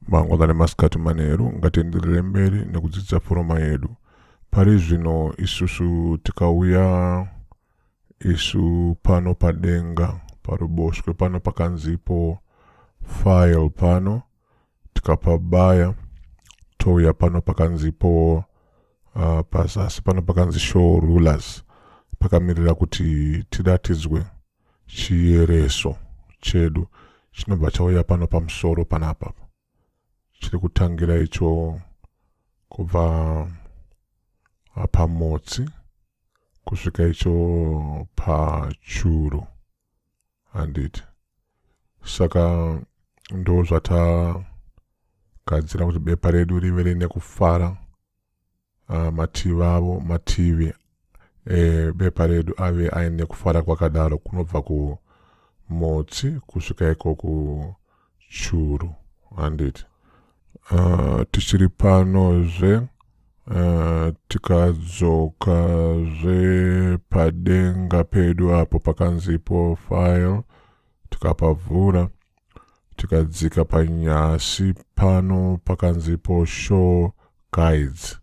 mangwanani masikati manheru ngatienderere mberi nekudzidza foroma yedu pari zvino isusu tikauya isu pano padenga paruboshwe pano pakanzipo file pano tikapabaya touya pano pakanzipo uh, pazasi pano pakanzi show rulers pakamirira kuti tiratidzwe chiyereso chedu chinobva chauya pano pamusoro panapa chiri kutangira icho kubva ah, pamotsi kusvika icho pachuru handiti saka ndo zvatagadzira kuti bepa redu rive rine kufara uh, mativi avo mativi ebepa redu ave aine kufara kwakadaro kunobva kumutsi kusvika iko ku churu handiti uh, tichiri panozve uh, ah, tikadzoka zve padenga pedu apo pakanzipo file tikapavhura tikadzika panyasi pano pakanzipo show guides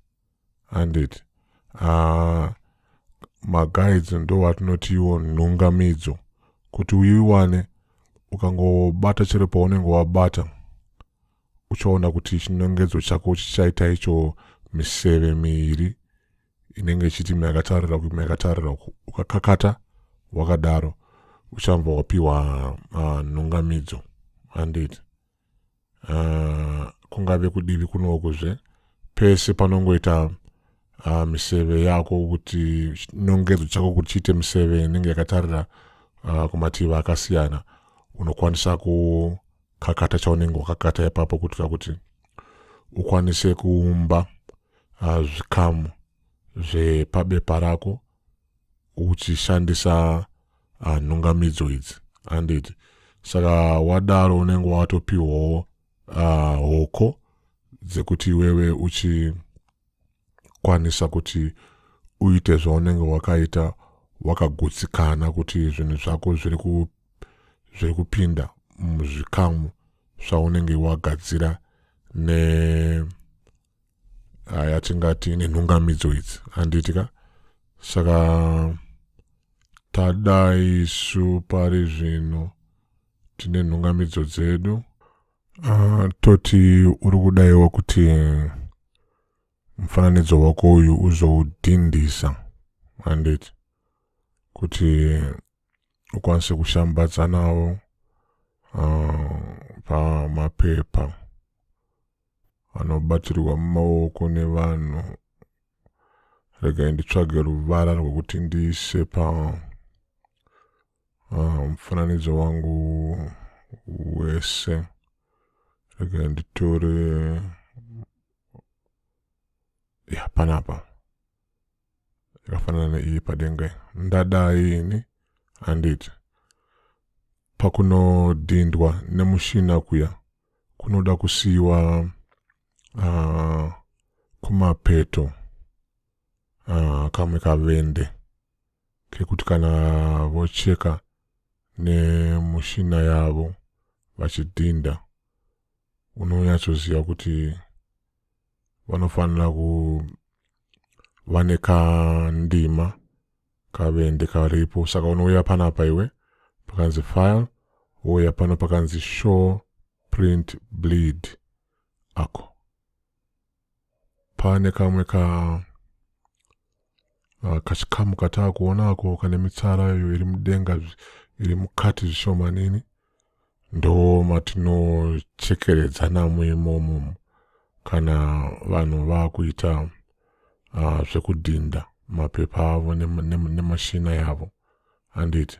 handiti uh, maguides ndovatinotiwo nhungamidzo kuti uiwane ukangobata chero paunenge wabata uchaona kuti chinongedzo chako chichaita icho miseve miiri inenge ichiti makatarira uku makatarira uku ukakakata wakadaro uchanva wapiwa uh, nhungamidzo handiti uh, kungave kudivi kunoku zve pese panongoita uh, miseve yako kuti nongedzo chako kuti chiite miseve inenge yakatarira uh, kumativi akasiyana unokwanisa kukakata chaunenge wakakata ipapo kuitira kuti ukwanise kuumba uh, zvikamu zvepabepa rako uchishandisa uh, nhungamidzo idzi handiti saka wadaro unenge watopiwawo uh, hoko dzekuti iwewe uchikwanisa kuti uite zvaunenge wakaita wakagutsikana kuti zvinhu zvako zviri ku zviri kupinda muzvikamu zvaunenge wagadzira ne haya tingati nenhungamidzo idzi handiti ka saka tada isu pari zvino tine nhungamidzo dzedu uh, toti uri kudaiwa kuti mufananidzo wako uyu uzoudhindisa handiti kuti ukwanise kushambadza nawo uh, pamapepa anobatirwa mumaoko nevanhu regai nditsvage ruvara rwekuti ndiise pa ah, mufananidzo uh, wangu wese regai nditore ya panapa yakafanana neiyi padenga iyi ndadai ini handiti pakunodhindwa nemushina kuya kunoda kusiyiwa uh, kumapeto uh, kamwe kavende kekuti kana vocheka nemushina yavo vachidhinda unonyatsoziva kuti vanofanira kuva nekandima kavende karipo saka unouya panapa iwe pakanzi file wouya pano pakanzi show print bleed ako pane kamwe ka Ah, kachikamu kataa kuonako kane mitsara iyo iri mudenga iri mukati zvishomanini ndo matinochekeredza namo imomo kana vanhu vakuita uh, zvekudhinda mapepa avo nemashina nema yavo handiti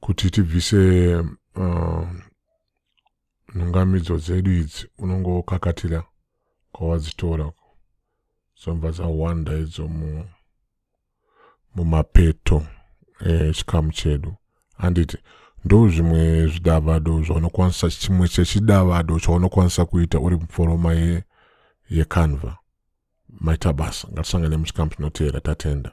kuti tibvise uh, nhungamidzo dzedu idzi unonge wokakatira kwawadzitora dzobva dzawanda idzo mumapeto eh, chikamu chedu handiti ndo zvimwe zvidavado zvaunokwanisa chimwe chechidavado chaunokwanisa kuita uri muforoma yecanva ye maita basa ngatisangane muchikamu chinoteera tatenda